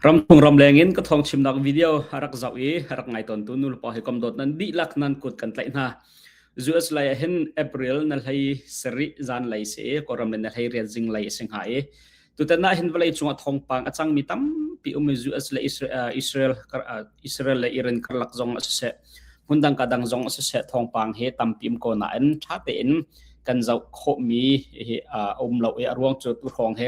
Ram thungram lengin ka thawng chimnak video a rak zoh i a rak ngai tawntu nulepa hi kom dawt nan dihlak nan kut kan tlaih hna. US lei ah hin April na hlei sarih zan lei si i Kawlram in na hlei rian zing lei si hnga i tutan ah hin vawlei cungah thawngpang a cangmi tampi um i US le Israel Israel Israel le Iran karlak zong a siseh hmundang ka dang zong a siseh thawngpang hi tampi um ko nain ṭha tein kan zoh khawhmi hi a um lo i a ruang cu tu hrawng hi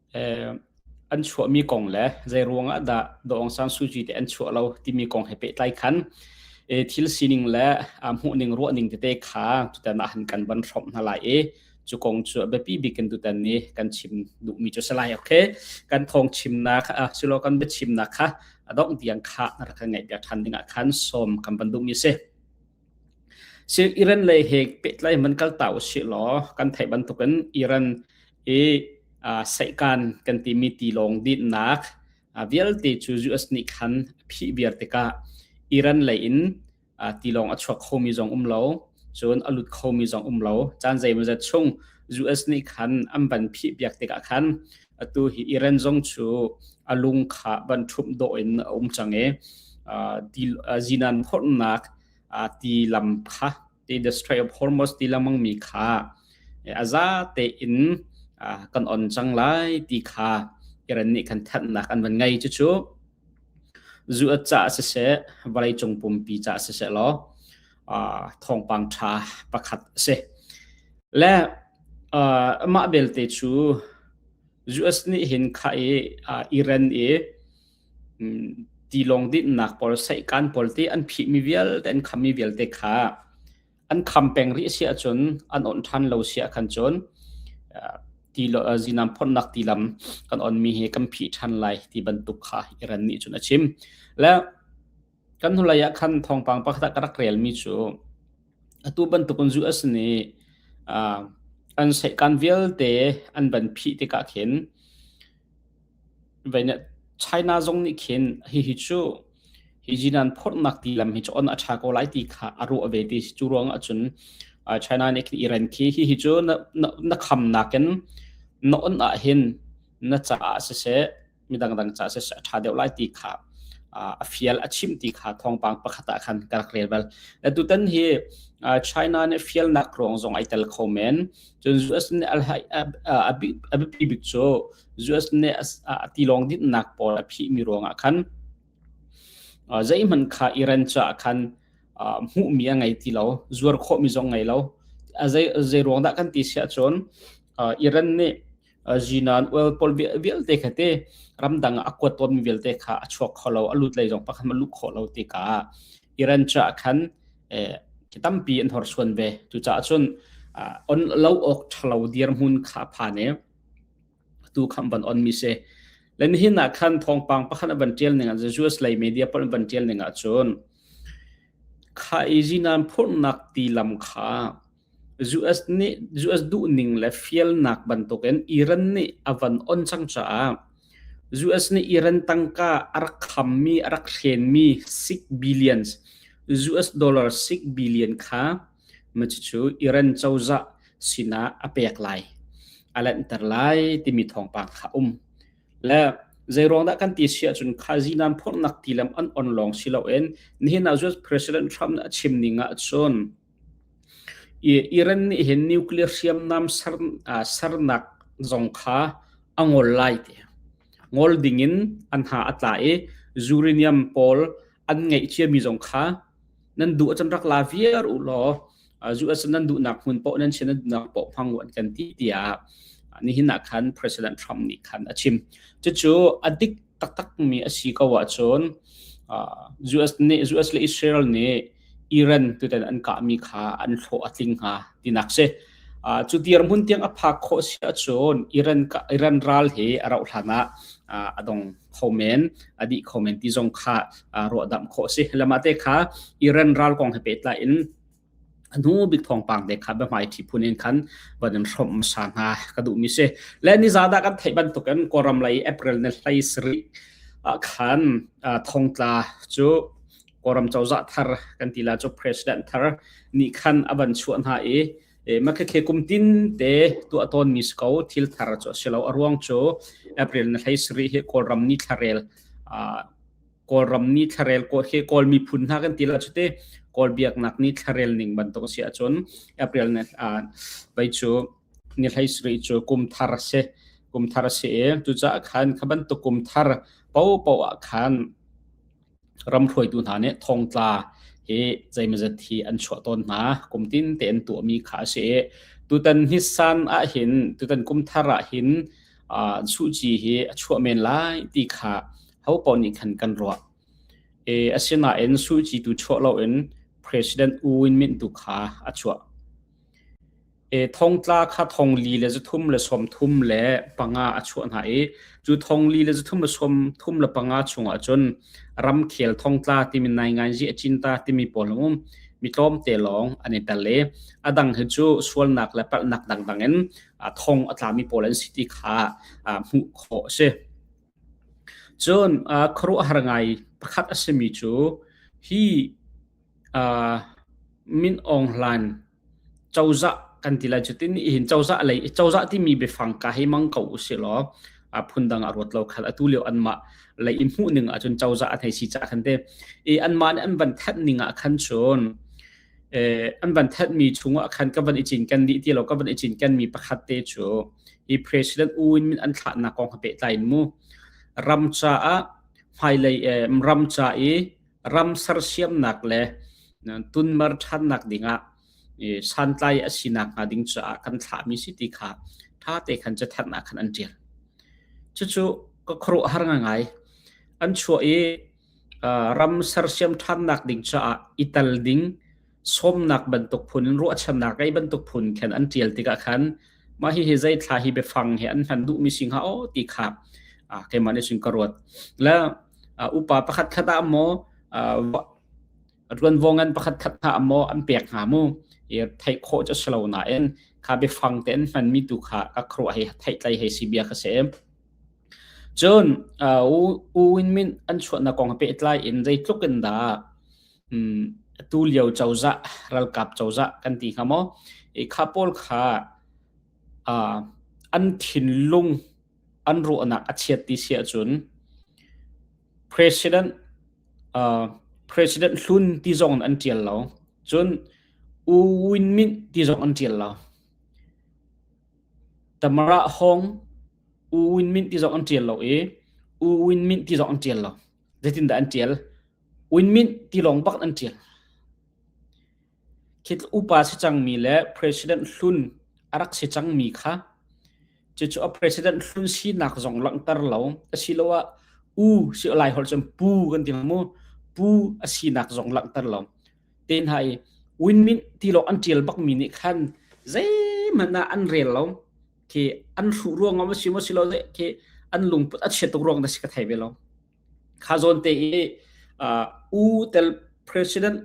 an chuahmi kong le zeiruang ah dah Daw Aung San Suu Kyi te an chuah lo timi kong he pehtlai khan thil sining le hmuhning ruahning tete kha tutan ah han kan van hrawm hna lai i cu kong cu a biapi bik in tutan ni kan chim duhmi cu si lai okay kan thong chimnak silo kan biachimnak kha a dongh tiang kha rak kan ngaih piak ṭhan dingah khan sawm kan van duhmi si Iran lei he pehtlai man kalta usih law kan theih bantukin Iran hi seihkan kan timi tilawng dinhnak vialte cu US nih khan phih viar tikah Iran lei in tilawng a chuak khomi zong um lo, cun a lut khomi zong um lo. Caan zeimawzat chung US nih khan an van phih piak tikah khan atu hi Iran zong cu a lung kha ban ṭhumh dawh in a um cang i zinan phorhnak ti lam kha the destroy of Hormuz ti lengmangmi kha a za tein kan on cang lai ti kha Iran nih kan thanhnak an van ngei cucu zu a ca siseh vawleicung pumpi ca siseh law thawngpang ṭha pakhat a si. Le mah belte cu US nih hin kha i Iran i tilawng dinhnak pawl seihkan pawl te an phihmi vialte an khammi vialte kha an kham peng rih si ahcun an on ṭhan lo si ahkhan cun zinam phornak tilam kan onmi hi kan phih ṭhan lai ti bantuk kha Iran nih cun a chim. Le Kan hnulei ah khan thawngpang pakhat ah ka rak relmi cu atu bantuk in zuh a si ni uh, an seihkan vialte an van phih tikah khin vene China zong nih khin hihi cu hi jinan phornak ti lam hi on a tha ko lai ti kha a ruah ve ti cu ruang ahcun China nih khin Iran khi hihi cu na na khamnak in na on ah hin na caah siseh midangdang ca se a tha deuh lai ti kha a fial a chim ti kha thawngpang pakhat ah khan ka rak rel bal na tutan hi China ne fial nak rong zong ai tel kho men chun US ne al abi bik chu US ne ati long dit nak por a phi mi rong a khan zai man kha Iran cha khan mu mi ngai ti lo zuar kho mi zong ngai lo azai azai rong da kan ti sia chon Iran ne zinan ual pol vialte kha te ramdang a kuat ton vialte kha a chuak kho lo a lut lei zong pakhat ma lu kho lo ti ka iran cha khan ki tampi an hor suan ve tu cha chun on lo ok thalo dir mun kha pha ne tu kham ban on mi se len hin na khan thong pang pakhan ban tiel ning an jews lei media pol ban tiel ning a chun kha izinan phurnak ti lam kha US nih US duhning le fialnak bantukin Iran nih a van on cang caah US nih Iran tangka a rak khammi a rak thlenmi six billions US dollar six billion kha macicu Iran cozah sinah a pek lai a lanhter lai timi thawngpang kha um le zeiruang dah kan ti si ahcun khazinan phurnak tilam an on lawng si loin nihin ah US President Trump nih a chim ning ah cun Iran nih hin nuclear hriamnam sernak zong kha a ngol lai ti. Ngol dingin an ha a tla i uranium pawl an ngeih ciami zong kha nan duh ahcun rak la viar u law zu ahcun nan duhnak hmun paoh nan sin nan duhnak paoh hmang u an kan ti tiah nihin ah khan President Trump nih khan a chim. Cucu a dik taktakmi a si ko ahcun US nih US le Israel nih Iran tutan an kahmi kha an hlawh a tling hnga tinak si. Uh, cu dirhmun tiang a phak khawh si ahcun Iran Iran ral he a rauh hlan ah uh, a dong khomen a di khomen ti zong kha uh, ruahdam khawh si lama te kha Iran ral kong he petlai in anu big thong pang de kha ba mai thi phun in khan banin hrom sa na ka du mi se le ni za da kan thei ban to kan koram lai april ne hlai sri khan thongtla chu Kawlram cozah thar kan ti la cu president thar nih khan a van chuah hna i makhekhe kum tin te tu a ton mi sko thil thar chu silo a ruang chu april na hlei sri he kawlram ni thlarel kawlram ni thlarel ko he kawl mi phun hna kan ti la chuti kawl biak nak ni thlarel ning bantuk si achun april na vai chu ni hlei sri chu kum thar se kum thar se tu cha khan khaban tu kum thar po po khan ram hruaitu hna nih thongtla hi zeimazat hi an chuah tawn hna. Kum tin te an tuahmi kha a si i tutan hnisan ahhin tutan kumthar ahhin uh, suji hi a chuah men lai ti kha ho pawl nih khan kan ruah. E, asinain suji tu chuah lo in President U Win Myint tu kha a chuah. Thongtla kha thongli le zuthum le sawmthum le panga a chuah hna i cu thongli le zuthum le sawmthum le panga chungah cun ramkhel thongtla timi nainganzi a cinta timi pawl um mi tlawmte lawng an i tel i a dang hi cu sualnak le palhnak dangdang in thong a tlami pawl an si ti kha hmuh khawh a si. Cun khuaruahhar ngai pakhat a simi cu hi Min Aung Hlain cozah kan ti lai cu tin nihin cozah lei i cozah timi biafang ka hei mang ko usih law phundang a ruat lo khal atu lio anmah lei i hmuh ning ahcun cozah a thei si cah khan te i anmah nih an van thanh ning ah khan cun an van thenhmi chungah khan ka van i cinken dih ti lo ka van i cinkenmi pakhat te cu hi President U Win Myint an thlahnak kong ha pehtlai in mu ram caah hmailei ram ca i ram sersiamnak le tunmar ṭhannak dingah santlai a sinak hnga ding caah kan thlahmi si ti kha ṭhate khan catharnak khan an ṭial. Cucu ka khuaruah har ngai. An chuah i ram sersiam ṭhannak ding caah i tal ding sawmnak bantuk phun ruahchannak ei bantuk phun khen an tial tikah khan ma hi hi zeithla hi biafang he an hman duhmi singa o ti kha a keimah nih sun ka ruat la upa pakhat khat ah mo ruan vongan pakhat khat na mo an pek nga mu i thei kho cho slo na en kha biafang te an hman mi tu kha ka khro hei thei tlai hei si bia kha se cun u win min an chuan na kong pe tlai in zei tlukin da um, tu lio cozah ralkap cozah kan ti hnga maw i kha pawl kha uh, an thinlung an ruahnak a chiat ti sia cun president uh, president hlun ti zong an tial lo cun u win min ti zong an tial lo tamara hong u win min ti zong an tial lo i u win min ti zong an tial lo zeitindah an ṭial winmint tilawng bak an ṭial khit upa si cangmi le president hlun a rak si cangmi kha cucu a president hlun sinak zong langhter lo asiloah u si lai holh cun pu kan ti mu pu a sinak zong langhter lo te hna i winmint tilawng an ṭial bakmi nih khan zeihmanh ah an rel lo khi an hruh ruang ngom si mo si lo khi an lungput a chia tuk ruang da si ka thai ve lo kha zon te i u tel president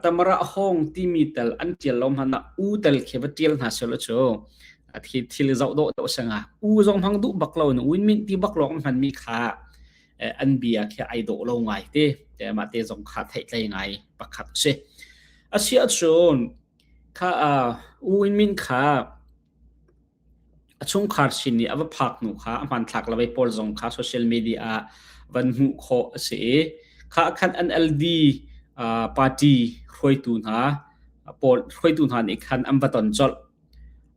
tamara hong ti mi tel an tial lo man na u tel khi va tial na selo chu thi thil zau do do sanga u zong hang du bak lo nu win min ti bak lo man mi kha an bia khi ai do lo ngai te te ma te zong kha thai tlai ngai pakhat se asia chun kha u win min kha A chungkhar sin i a va phak hnu kha a hmanthlak le pawl zong kha social media ah van hmuh khawh a si i kha khan NLD uh, party hruaitu hna pawl hruaitu hna nih khan an va ton colh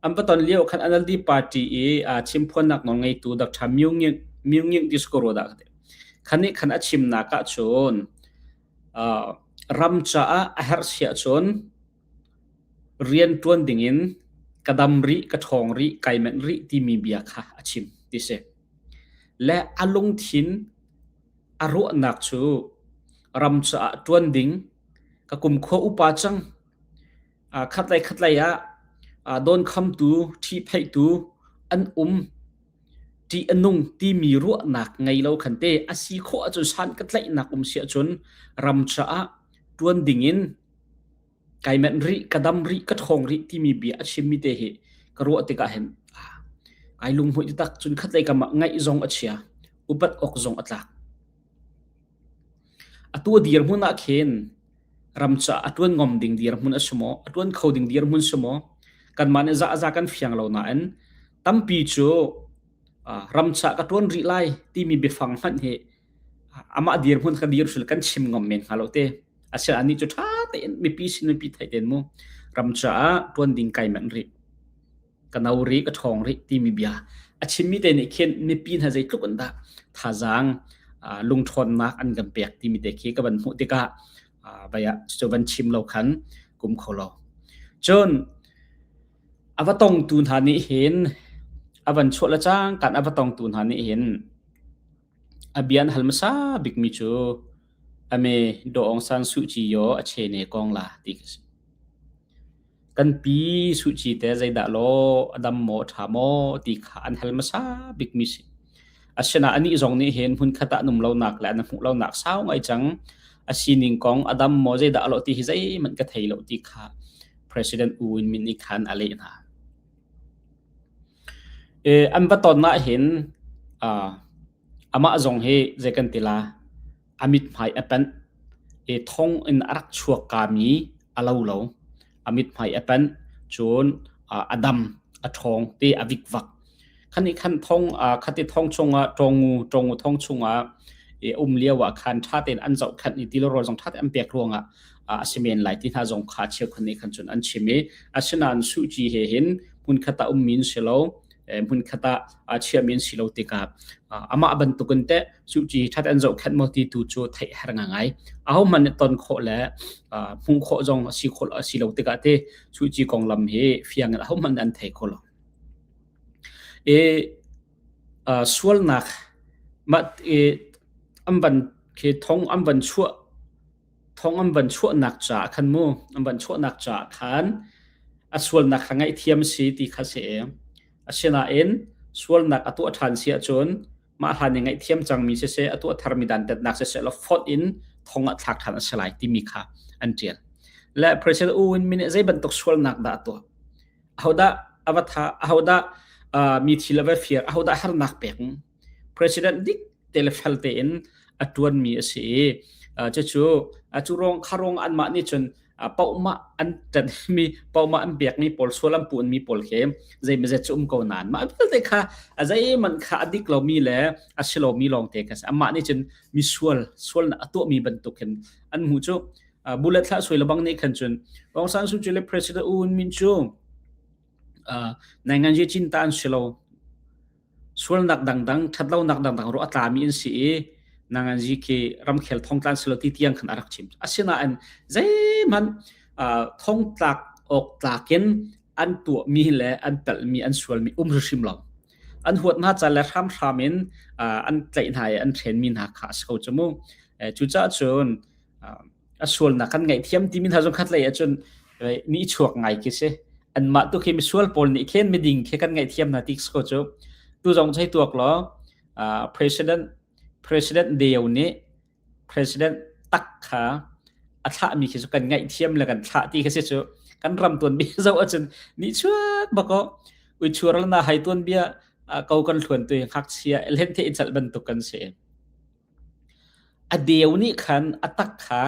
an va ton lio khan NLD party i uh, chimphuannak nawl ngeitu Dr. Myu Ngin Myu Ngin Diskoro dah khan nih khan a chimnak ah cun uh, ram caah a herh siah cun rian ṭuan dingin ka dam rih, ka ṭhawng rih, kai manh rih timi bia kha a chim ti si. Le a lungthin a ruahnak cu ram caah ṭuan ding ka kumkhua upa cang khatlei khatlei ah dawnkhamtu, ṭhipheihtu an um, ṭih a nung timi ruahnak ngei lo khan te a si khawh ahcun san ka tlaihnak um si ahcun ram caah ṭuan dingin kai manh rih, ka dam rih, ka ṭhawng rih timi bia a chimmi te hi ka ruah tikah hin ai lunghmuih taktak. Cun khatlei kamah ngaih zong a chia, upat awk zong a tlak. Atu a dirhmun ah khin ram caah a ṭuan ngom ding dirhmun a si maw, a ṭuan kho ding dirhmun si maw, kanmah nih zahza kan fiang lo nain tampi cu ram caah ka ṭuan rih lai timi biafang hmanh hi amah dirhmun ka dir hrul kan chim ngom men hnga lo te. Asiah anih cu ṭha tein mipi sin mipi theih tein mu ram caah ṭuan ding kai manh rih. Ka no rih, ka ṭhawng rih timi bia a chimmi te nih khin mipi hna zeitluk in dah thazaang uh, lungṭhawnnak an kan pek timi te khi ka van hmuh tikah uh, baya cu van chim lo khan kum kho lo. Cun ava tongtu hna nih hin avan chuah le cang kan ava tongtu hna nih hin A bia na hal hmasa bikmi cu a me Daw Aung San Suh Kyi aw a che ne kong la ti ka si. Kan pi Suh Kyi te zeidah law a dam maw a ṭha maw ti kha an hal hmasa bikmi si. Asinain anih zong nih hin hmunkhat ah an um lonak le an hmuh lonak sau ngai cang a sining kong a dam maw zeidah a lawh ti hi zeihmanh ka thei lo ti kha President U Win Myint nih khan a leh hna. An va ton ahhin amah zong hi zei kan ti la a mithmai a panh. Thong in a rak chuakkami a lo lo. A mithmai a panh. Cun a dam, a ṭhawng ti a vikvak. Khati thong chungah ṭawngu thong chungah um lioah khan ṭha tein an zohkhenh i tiloro zong ṭha tein an pek ruangah a si men lai ti hna zong kha cheukhat nih khan cun an chim i asinain suci he hin hmunkhat ah ummi in si lo hmunkhat ah chiami in si lo tikah amah bantukin te suci that an zohkhenh maw ti tu cu theih har ngai ahohmanh nih ton khawh le hmuh khawh zong si khawh si lo tikah te suci konglam hi fiang in ahohmanh an thei kho lo e sualnak mat e an van ke thong an van chuah thong an van chuahnak caah khan mu an van chuahnak caah khan a sualnak kha ngaihthiam a si ti kha si asinain sualnak a tuah ṭhan si ahcun mah hlan i ngaihthiam cangmi siseh a tuah tharmi dantatnak siseh lo fawt in thong a thlak ṭhan a si lai timi kha an ṭial le President U Win Myint nih zei bantuk sualnak dah a tuah ahodah a va tha ahodah mi thil a va fir ahodah harnak pek president dik te le fel tein a tuan mi a si i cucu cu rong kha rong an mah nih cun pauma an tat mi pauma an pek mi pawl sual an puan mi pawl he zei ma zet cu um ko nan ma vialte kha azai man kha adik lo mi le asilo mi long te kha amah nih cun mi sual sual na ato mi bantuk hin an mu cu bullet thla sui labang ni khan chun Aung San Suu Kyi le president un min chu nai ngan je chin tan silo sualnak dangdang ṭhatlonak dangdang ru a tlami an si i nangan zi khi ramkhel thongtlan silo ti tiang khan a rak chim asinain zeihmanh thongtlak awk tlakin an tuahmi le an pelhmi an sualmi um hrim lo an huat hna ca le hramhram in an tlaih hna i an ṭhenmi hna kha a so cu mu cucaah cun a sualnak kan ngaihthiam timi hna zong khat lei ahcun mi chuak ngai khi si anmah tu khi misual pawl nih khen miding khi kan ngaihthiam hna tik ko cu tu zong chai tuak law president president deo nih president tak kha a thlah mi khi cu kan ngaihthiam le kan thlah ti khi si cu kan ram tuan bi zo acun ni chuat bako ui chuar la na hai tuan bia ko kan thluan tu ngak sia len the chal ban tuk kan se A deu nih khan a tak kha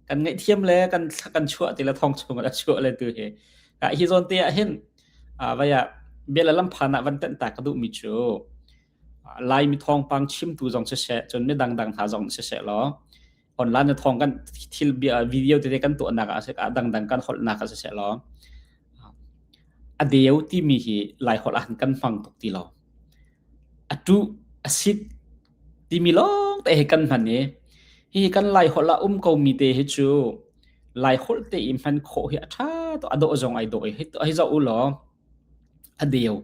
kan ngaihthiam le kan kan chuah ti le thong chungah a chuah le tu hi ah hi zawn te ah hin ah vai ah bia le lamphan ah van tenh ta ka duh mi cu Laimi thawngpang chimtu zong si se cun mi dangdang hna zong si se law online na thawng kan thil bia video tete kan tuahnak ah si ah dangdang kan holhnak ah si se law a deu timi hi lai holh ah kan hmang tuk ti lo a tu a sit Timi lawng te hi kan hman i hihi kan Laiholh ah um komi te hi cu Laiholh te i hman khawh hi a ṭha to a dawh zong ai dawh i hei zoh u law a deu,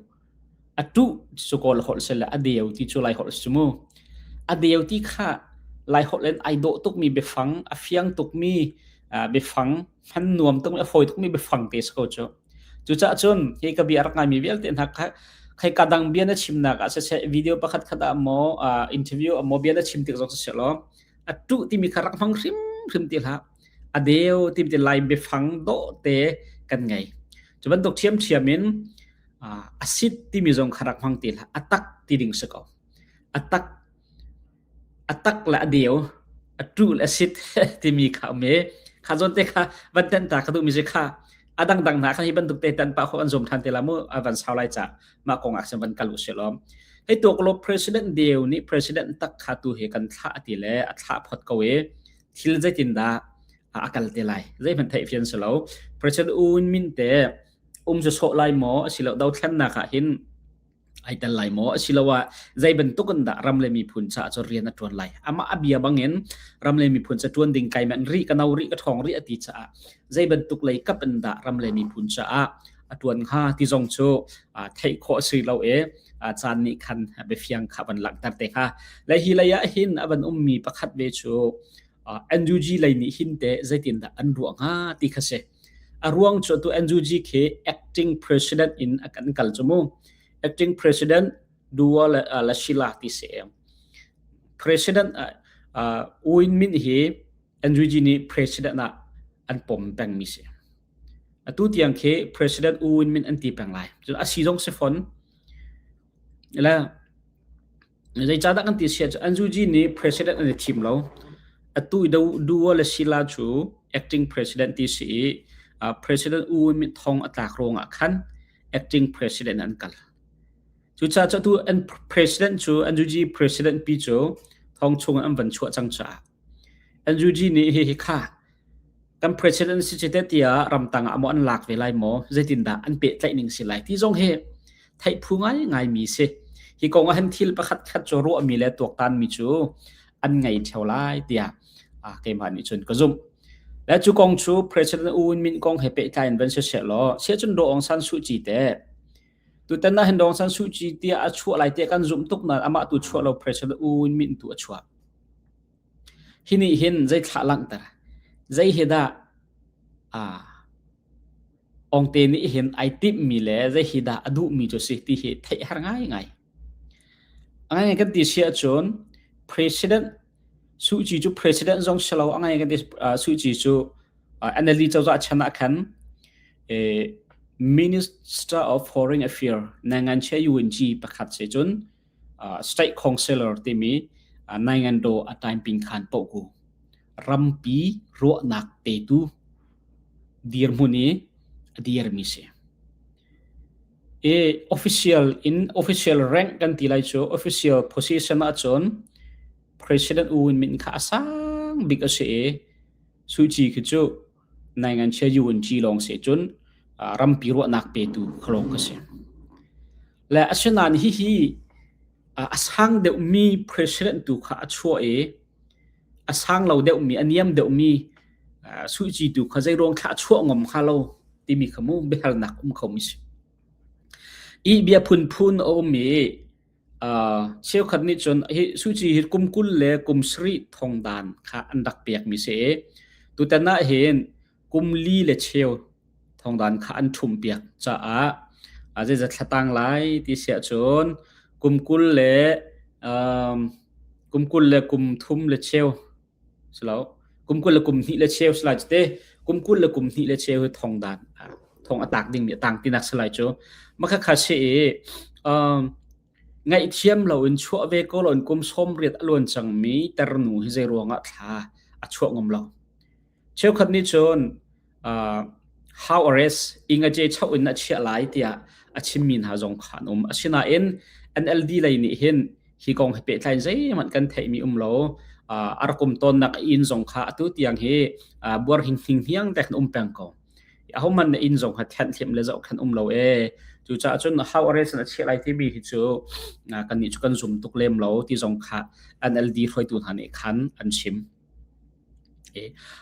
a ṭuh su kawl holh sile a deu ti cu Laiholh a si mu. A deu ti kha Laiholh in ai dawh tukmi biafang, a fiang tukmi biafang Hman nuam tuk le fawi tukmi biafang te si ko cu. Cucah cun hi ka bia a rak ngaimi vialte hna kha khai ka dang bia na chimnak ah siseh video pakhat khat ah maw uh, interview ah maw bia na chim tik zong siseh law a tu timi kha rak hmang hrim hrim ti hlah a deu tim ti lai biafang do te kan ngei cu bantuk thiam thiam in uh, asit timi zong kha rak hmang ti hlah atak ti ding si ko atak A tak le a deu, a ṭul, a sit timi kha a um i kha zawnte kha van tenh ta ka duhmi cu kha a dangdang hna kha hi bantuk te tan pah khawh an zum ṭhan te la mu a van sau lai ca mah kong ah khin van kal u sih lawm. Hei tuaklup president deu nih president tak kha tu hi kan thlah a ti le a thlah phot ko i thil zeitindah a kal te lai. Zeihmanh theih fian si lo. President Uun Min te um cu sawh lai maw a si lo dothlennak ah hin ai tel lai maw asiloah zei bantuk in dah ram le miphun caah cu rian a ṭuan lai amah a bia bangin ram le miphun ca ṭuan ding kaiman ri ka no ri ka ṭhawng ri a ti caah zei bantuk lei kap in dah ram le miphun caah a ṭuan hnga ti zong cu theih khawh si lo e caan nih khan biafiang kha van langhter te hnga le hi lei ah hin a van ummi pakhat ve cu NUG lei nih hin te zeitin dah an ruah hnga ti kha si A ruang cu atu NUG khi acting president in a kan kal cu mu. Acting president Dua le uh, la Shila ti se em. President uh, uh, Uin Min hi NUG nih president ah an pom peng mi se. Atu tiang khi president Uin Min an ti peng lai. A si zong se fon. La Zeicahdah kan ti sian cu Anzuji nih president an i thim lo. Atu i Dual a sila cu acting president ti si i uh, president U Win Myint thong a tlak ruang ah khan acting president an kal. Cucaah cu atu an president cu Anzuji president pi cu thong chung an van chuah cang caah NUG nih hihi kha kan president si si te tiah ramtang ah maw an lak ve lai maw zeitindah an pehtlaih ning si lai ti zong hi theih phu ngai ngai mi si hi kong ah han thil pakhat khat cu ruah mi le tuaktan mi cu an ngei theo lai tiah ah keimah nih cun ka zumh le cu kong cu president U Win Myint kong he pehtlai in van si se law se cun Daw Aung San Suu Kyi te tutan na hin Daw Aung San Suu Kyi tia a chuah lai te kan zumh tuk na amah tu chuah lo president U Win Myint tu a chuah Hi nih hin zei thlah langhter, zei hi dah awngte nih hin ai timhmi le zei hi dah a duhmi cu a si ti hi theih har ngaingai. A ngaingai kan ti si ahcun President Suh Kyi cu President zong si lo a ngaingai kan ti Suh Kyi cu NLD cozah chan ah khan Minister of Foreign Affairs Nangan Che Yun Kyi pakhat si cun state councillor timi Naingando a taiping khan poku rampi ruahnak petu dirhmun i dirmi si i official in official rank kan ti lai cu official position ah cun president u min kha a sang bik a si i suchi khi cu Nai nganchia UNG lawng se cun rampi ruahnak petu khalawng ka si. Le asinain hihi a sang deuhmi president tu kha a chuah i a sang lo deuhmi a niam deuhmi suici tu kha zeiruang thlah chuah ngom hnga lo timi kha mu biahalnak um kho mi si. I bia phunphun a um i Cheukhat nih cun hi suci hi kum kul le kum sarih thongdan kha an rak pekmi si i tutan ah hin kum li le cheu thongdan kha an ṭhum piak caah a zeizat thlatang lai ti siah cun kum kul le kum kul le kum thum le cheu Selo kum kul le kum hnih le cheu salai cite kum kul le kum hnih le cheu hi thong dan thong atak ding mi atang tinak salai cu makha kha se i um ngaih thiam lo in chuah ve ko lon kum som riat aluan chang mi ternu hi zei ruangah thla a chuah ngom lo cheukhat ni chun how arrest ingage cho in a chia lai tiah a chimmi hna zong kha an um asinain NLD lei nih hin hi kong he pehtlain zeihmanh kan theihmi um lo arakum tonnak in zong kha atu tiang hi buar hinghning hiang tek um peng ko a homan na in zong ha thian thiam le zau khan um lo e cu cha chun how arrest na chia lai ti mi hi chu kan ni chu kan zum tuk lem lo ti zong kha NLD hruaitu hna nih khan an chim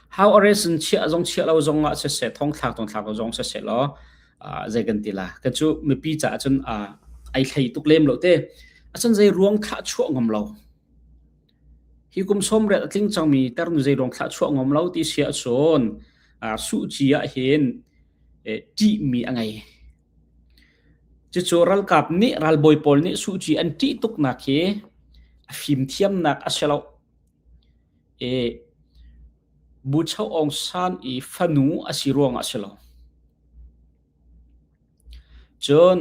How Aresin chiah zong chiah lo zongah siseh, thongthlak thongthlak lo zong siseh law zei kan ti la. Kan cu mipi caah cun ai thlei tuk lem lo te. Acun zei ruang thlah chuah ngam lo. Hi kum som ret a tling cangmi ternu zei ruang thlah chuah ngam lo ti sia cun suhci ah hin ṭihmi a ngei. Cucu ralkap nih, ralbawi pawl nih suhci an ṭih tuk nak hi a fimthiamnak a si lo. E Bucho Aung San i fanu a si ruangah a si lo. Cun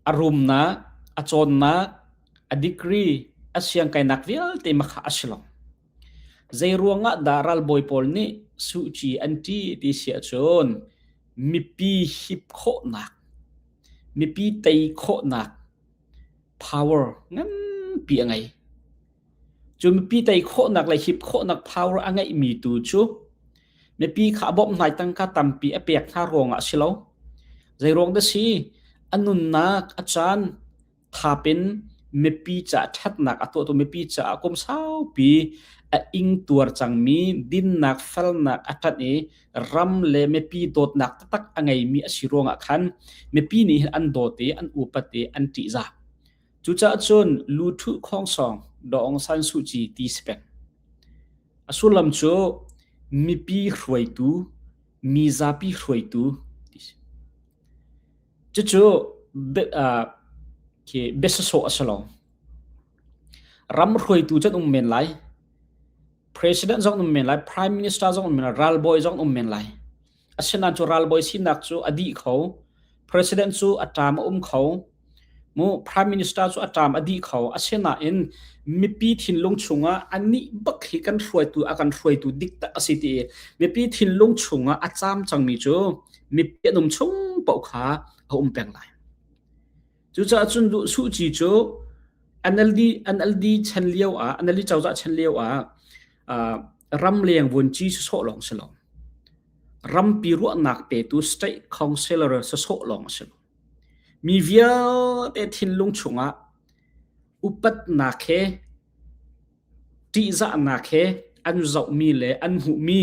a rumnak, a cawnnak, a degree, a siangkainak vialte makha a si lo. Zei ruangah dah ralbawi pawl nih suci an ṭi ti siah cun mipi hip khawhnak, mipi tei khawhnak power nganpi a ngei. Cu mipi tei khawhnak le hip khawhnak power a ngeihmi tu cu mipi kha a bawmh hnai tangka tampi a pek hna ruang ah si lo. Zei ruang da si, a nunnak, a caan, thapin mipi caah ṭhatnak a tuahtu mipi caah kum saupi a ing tuar cangmi dinnak, falnak a ṭanh i ram le mipi dawtnak taktak a ngeimi a si ruangah khan mipi nih hin an dawt i an upat i an ṭihzah. Cucaah cun lu ṭhu khongsong Dawng San Suh Kyi ti si pek. A sullam cu mipi hruaitu, mi zapi hruaitu ti si. Cucu khi besasawh a si lo. Ram hruaitu can um men lai. president zong um men lai prime minister zong um men lai ralbawi zong um men lai asinain cu ralbawi sinak cu a dih kho president cu a ṭam a um kho mu prime minister cu a ṭam a dih kho asinain mipi thinlung chungah anih bak hi kan hruaitu a kan hruaitu dik tak a si ti mipi thinlung chungah a cam cangmi cu mipi an um chung paoh kha a um peng lai Cucaah cun duh suci cu NLD NLD chan lio ah NLD cozah chan lio ah ram leng vuanci si sawh lawng si lo rampi ruahnak tetu state councillor si sawh lawng si lo mi vialte thinlung chungah upatnak he ṭihzahnak he an zohmi le an hmuhmi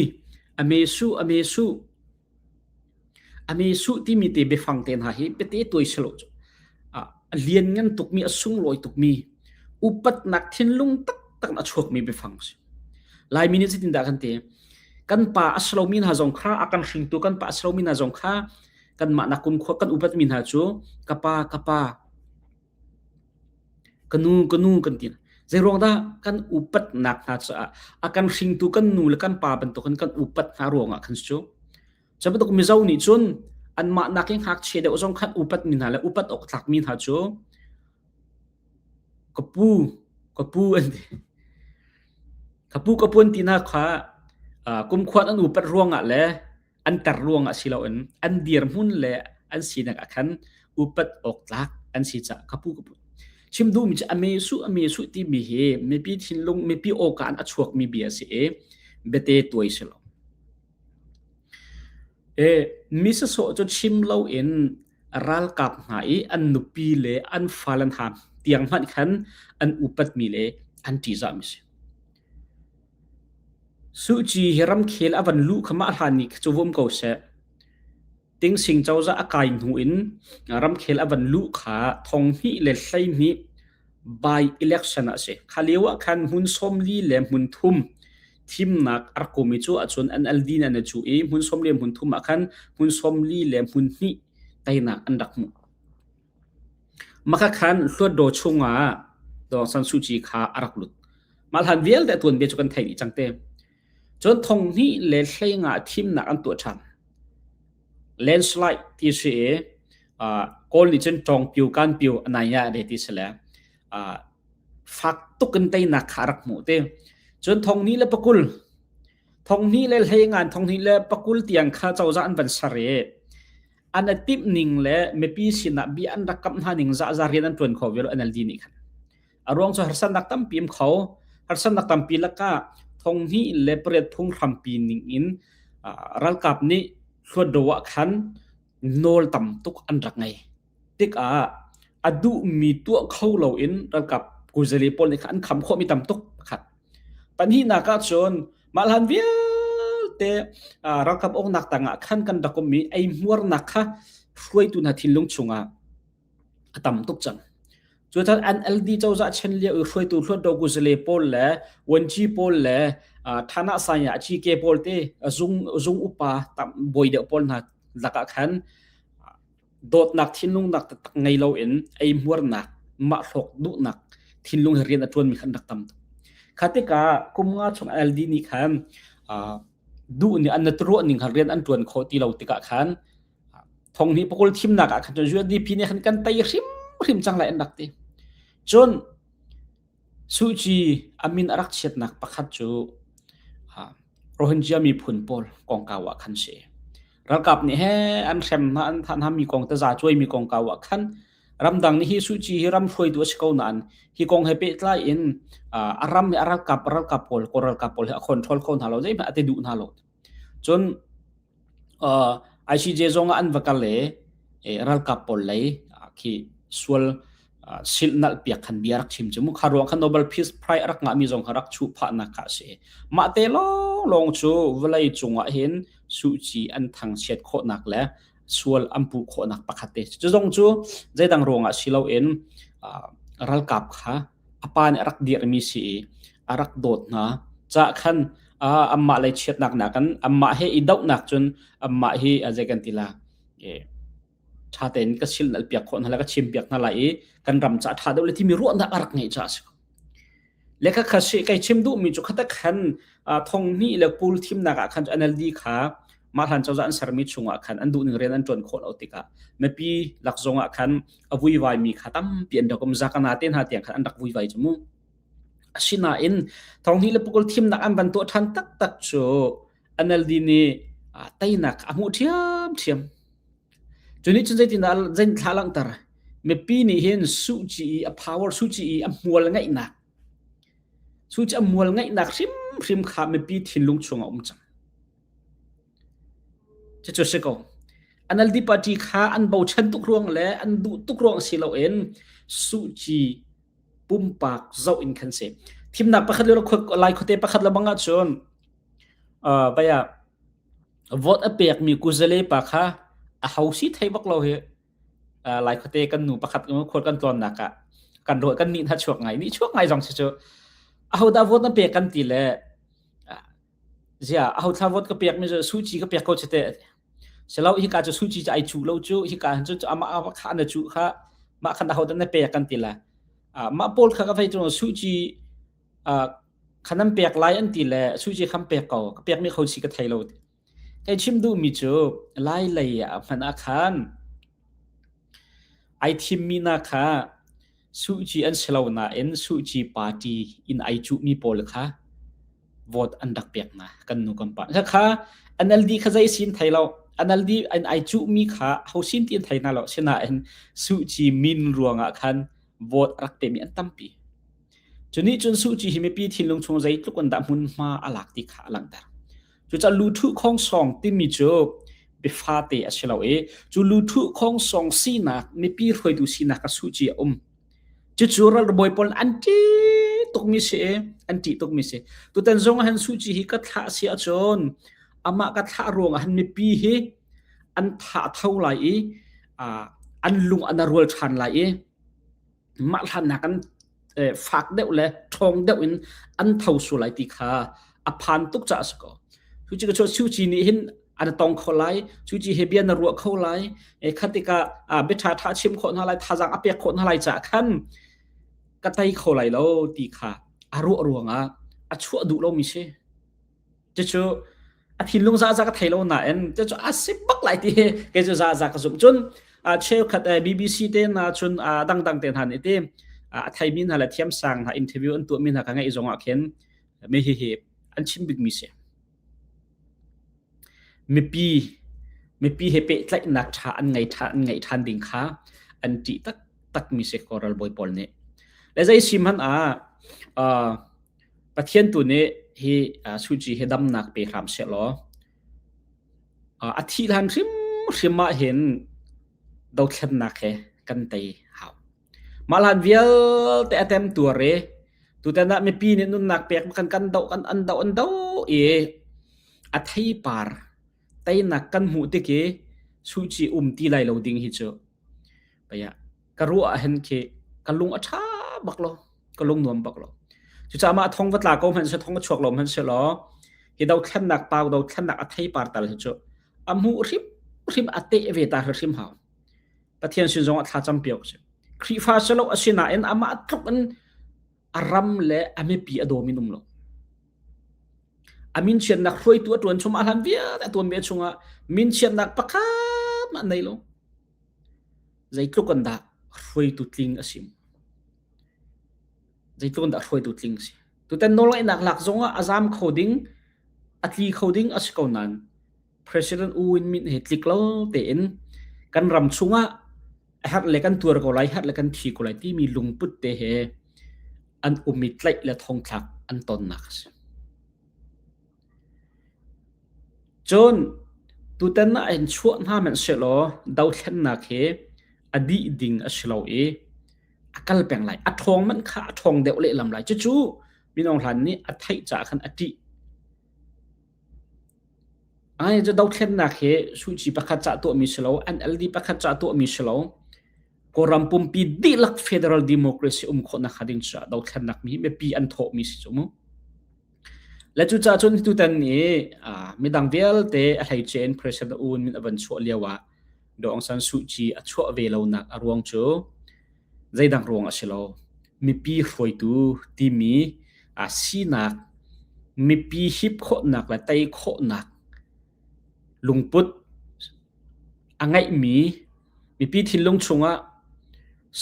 a mesuh a mesuh a mesuh timi te biafang te hna hi biate tuai si lo cu a lianngan tukmi a sunglawi tukmi upatnak thinlung taktak in a chuakmi biafang si Laimi nih zeitin dah kan te kan pa a slomi hna zong kha a kan hringtu kan pa a slomi hna zong kha kanmah nakkun khua kan upatmi hna cu ka pa ka pa Kanu kanu kan ti. Zeiruang dah kan upatnak hna caah a kan hringtu kan nu le kan pa bantukin kan upat hna ruangah kan si cu. Cu bantuk Mizo nih cun anmah nak i ngakchia deuh zong khan upat mi hna le upat awk tlak mi hna cu ka pu, ka pu an ti. Ka pu ka pu an ti nak kha uh, kumkhuan an upat ruangah le an ter ruang ah si loin an dirhmun le an sinak ah khan upat awk tlak an si ca kapu kapu chim duh mi a mesu a mesu ti mi hi mipi thinlung mipi awka an a chuak mi bia si e bete tuai si lo e misa so cho chim lo in ralkap nga i an nupi le an falan ham tiang man khan an upat mi le an ti za mi si Suhci hi ramkhel a van luh kha mah hlan ni cu vum ko seh. Tingsing cozah a kai hnu in ramkhel a van luh kha thong hnih le hlei hnih by election ah a si. Kha lio ah khan hmun sawmli le hmun thum thimnak a rak um i cu ahcun an alvin an i cuh i hmun sawmli le hmun thum ah khan hmun sawmli le hmun hnih teinak an rak hmuh. Makakhan hluatdaw chungah Dawngsan Suh Kyi kha a rak lut. Mah hlan vialte tuanbia cu kan thei dih cang te. Cun thong hnih le hlei nga thimnak an tuah ṭhan. Landslide ti a si i uh, goal nih cun ṭawng piu kan piu a nai ya de ti si le uh, fak tuk in teinak kha a rak hmuh te. Cun thong hnih le pakul thong hnih le hlei ngan thong hnih le pakul tiang kha cozah an van ser i an a timh ning le mipi sinah bia an rak kamh hna ning zahzah rian an ṭuan kho vial NLD nih khan a ruang cu harsannak tampi um kho harsannak tampi laka thonghni le pariat phung hrampi ning in ralkap nih hluat do ah khan nawl tam tuk an rak ngei tikah a duhmi tuah kho lo in ralkap kuzali pawl nih khan an kham khawhmi tam tuk Pahnihnak ahcun mah hlan vialte ralkap uknak tangah khan kan rak um i ei hmuarnak kha hruaitu hna thinlung chungah a tam tuk cang. Cutan NLD cozah chen lio i hruaitu Hluat Do Guzele pawl le Wanji pawl le Thana Saya Cike pawl te zung zung upa tam boi deuh pawl hna lakah khan dawtnak thinlungnak taktak ngei loin eihmuarnak mah hlawk duhnak thinlung hi rian a ṭuanmi khan rak tam tuk kha tikah kum nga chung LD nih khan duh nih an naturuah ning khan rian an ṭuan khawh ti lo tikah khan thong hi pakul thimnak ah khan cun USDP nih khan kan tei hrimhrim cang lai an rak ti cun Suci a min a rak chiatnak pakhat cu Rohingya miphun pawl kongkau ah khan si. Ralkap nih he an hrem hna, an thah hna mi kong taza cuai mi kongkau ah khan ramdang nih hi suci hi ram hruaitu a si ko nain hi kong he pehtlai in a ram nih a ralkap ralkap pawl kawl ralkap pawl hi a control kho hna lo zeihmanh a ti duh hna lo. Cun ICJ zong ah an va kal i ralkap pawl lei khi sual silhnalh piak khan bia a rak chim cu mu. Kha ruang khan Nobel Peace Prize a rak ngahmi zong kha rak chuh phahnak kha a si. Mah te lawnglawng cu vawlei cung ah hin Suh Kyi an thangchiat khawhnak le sual an puh khawhnak pakhat te cu zong cu zeidang ruangah si loin ralkap kha apa nih a rak dirmi si i a rak dawt hna cah khan amah lei chiatnak nak kan amah he i dohnak cun amah hi zei kan tila ṭha tein ka sil nal piak khawh hna la ka chim piak hna lai i kan ram ca ṭha deuh le timi ruahnak a rak ngeih caah a si le kha khat kai chim duhmi cu khatak khan thong hnih le pool thimnak ah khan NLD kha mah hlan cozah an sermi chungah khan an duhning rian an ṭuan khawh lo tikah mipi lak zongah khan a vuivai mi kha tampi an rak um zakana te hna tiang khan an rak vuivai cu mu asinain thong hnih le pukul thimnak an van tuah ṭhan taktak cu NLD nih teinak a hmuh ṭhiam ṭhiam Cunih cun zeitindah zein thla langhter? Mipi nih hin suhci i a power, suhci i a hmual ngeihnak, suhci a hmual ngeihnak hrimhrim kha mipi thinlung chungah a um cang. Cucu a si ko. NLD party kha an bochan tuk ruang le an duh tuk ruang si loin suhci pumpak zoh in kan si. Thimnak pakhat le lai khuate pakhat le bang ahcun, uh, baya, vote a pekmi kuzale pa kha a ho si thei bak lo hi uh, lai khote kan nu pakhat khual kan tlawnnak ah kan roy kan ni hna chuak ngai ni chuak ngai zong si chu a ho da vote na pek kan ti le zia a ho thla vote ka pek mi su chi ka pek ko chete selo hi ka chu su chi ai chu lo chu hi ka han chu ama ama kha na chu kha ma khan a ho da na pek kan ti la ma pol kha ka phai chu su chi kha nan pek lai an ti le su ci kham pek ko ka pekmi kho si ka thei lo hei chim duhmi cu lai lei ah hman ah khan ai thimmi na kha su ci an si lo nain su ci party in ai cuhmi pawl kha vote an rak pek na kan nu kan pa kha NLD kha zai sin thei lo NLD an ai cuhmi kha hausin tin thei na lo sinain su ci min ruangah khan vote rak pemi an tampi Cu nih cun Suh Ci hi mipi thinlung chung zeitluk in dah hmunhma a lak ti kha a langhter. Cucah luthuh khawng sawng timi cu biafate a si lo i cu luthuh khawng sawng sinak mipi hruaitu sinak a Suh Ci a um. Cucu ralbawi pawl an ṭih tukmi si i an ṭih tukmi si. Tutan zong han Suh Ci hi ka thlah si ahcun amah ka thlah ruangah han mipi hi an thah tho lai i an lung an a rual ṭhan lai i mah hlannak an fak deuh le ṭhawng deuh in an tho sual lai ti kha a phan tuk caah a si ko. Cu ci cu Siuci nih hin an tong kho lai cuci he bia na ruah kho lai khatika biaṭha ṭha chim khawh hna lai thazang a pek khawh hna lai caah khan ka tei kho lai lo ti kha a ruah ruangah a chuah duh lomi si. Cucu a thinlung zaza ka thei lo nain cucu a si bak lai ti hi kei cu zaza ka zumh cun a cheukhat BBC te hna cun a dangdang te hna nih ti a theimi hna le thiamsang hna interview an tuahmi hna ka ngeih zong ah khin mi hi hi an chim bikmi si mipi mipi he pehtlaihnak ṭha an ngei ṭhan an ngeih ṭhan ding kha an ṭih taktakmi si koral bawi pawl nih le zei sim hmanh ah uh, Pathian tu nih hi suci hi damnak pe hram seh law a thih hlan hrimhrim ah hin dothlennak he kan tei hau. Mah hlan vialte a tem tuar i tutan ah mipi nih nunnak pek kan kan doh an doh an doh i a theipar teinak kan hmuh tik i suci um ti lai lo ding hi cu paya ka ruah ah hen khi ka lung a tha bak lo ka lung nuam bak lo cu ca ma thong va tla ko hman se thong va chuak lo hman se lo hi do thlennak pau do thlennak a thei par tal hi chu a mu hrim hrim a te ve ta hrim hau pathian sin zong a thla cham piok se khrifa selo asina in ama tluk in a ram le a mipi a dawm in um lo a min chiatnak hruaitu a tuan chum a hlan vialte a tuan ve chungah min chiatnak pakhat mah nei lo zeitluk an dah hruaitu tling a sim zeitluk an dah hruaitu tling si tutan nawlngaihnak lak zongah a zam kho ding a tli kho ding a si ko nain President U in min hi tlik lo tein kan ram chungah har le kan tuar ko lai har le kan thi ko lai timi lungput te he an um i tlaih le thongthlak an tonnak a si. Cun tutan na in chuah hna men se law dothlennak he a dih ding a si lo i a kal peng lai a thong man kha a thong deuh lehlam lai cucu minong hlan nih a theih ca khan a tih Ai cu dothlennak hi suici pakhat cah tuahmi si lo, NLD pakhat cah tuahmi si lo, Kawlram pumpi dihlak federal democracy um khawh nakhnga ding caah dothlennak mi hi mipi an thawhmi si cu mu. Le cucah cun tutan ni midang vialte a hleice in President Uun min a van chuah lio ah Dawng San Suh Kyi a chuah ve lonak a ruang cu zeidak ruang a si lo. Mipi hruaitu timi aa sinak mipi hip khawhnak le tei khawhnak lungput a ngeihmi mipi thinlung chungah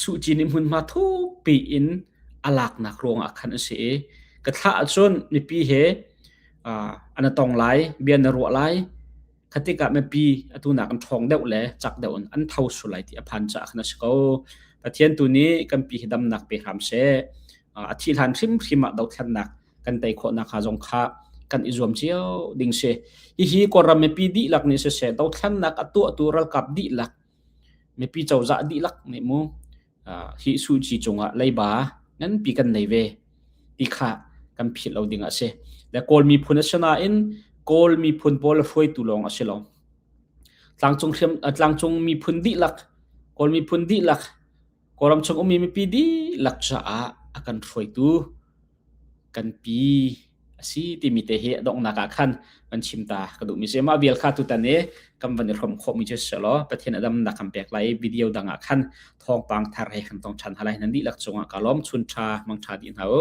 Suh Kyi nih hmunhma thuk piin a laknak ruangah khan a si i ka thlah ahcun mipi he uh, an a tong lai, bia na ruah lai. khatik ah mipi atunak an ṭhawng deuh le chak deuh in an tho sul lai ti a phan caah khan a si ko. Pathian tu nih kan pi hi damnak pe hram seh. A thih hlan hrimhrim ah dothlennak kan tei khawhnak hnga zong kha kan i zuam cio ding si. Hihi kawlram mipi dihlak nih siseh, dothlennak a tuahtu ralkap dihlak mipi cozah dihlak nih mu hi suci cungah leiba nganpi kan nei ve ti kha kan philh lo ding a si le kawl miphun a si nain kawl miphun pawl hruaitu lawng a si lo tlangcung hriam tlangcung miphun dihlak kawl miphun dihlak kawlram chung ummi mipi dihlak caah a kan hruaitu kanpi asi timi te hi a donghnak ah khan kan chim ta ka duh mi si mah vial kha tutan i kan van i hrom khawh mi cu si lo pathian a damnak kan pek lai video dang ah khan thawngpang thar he kan tong than halai nan dihlak cungah ka lom chun tha mang tha di hna u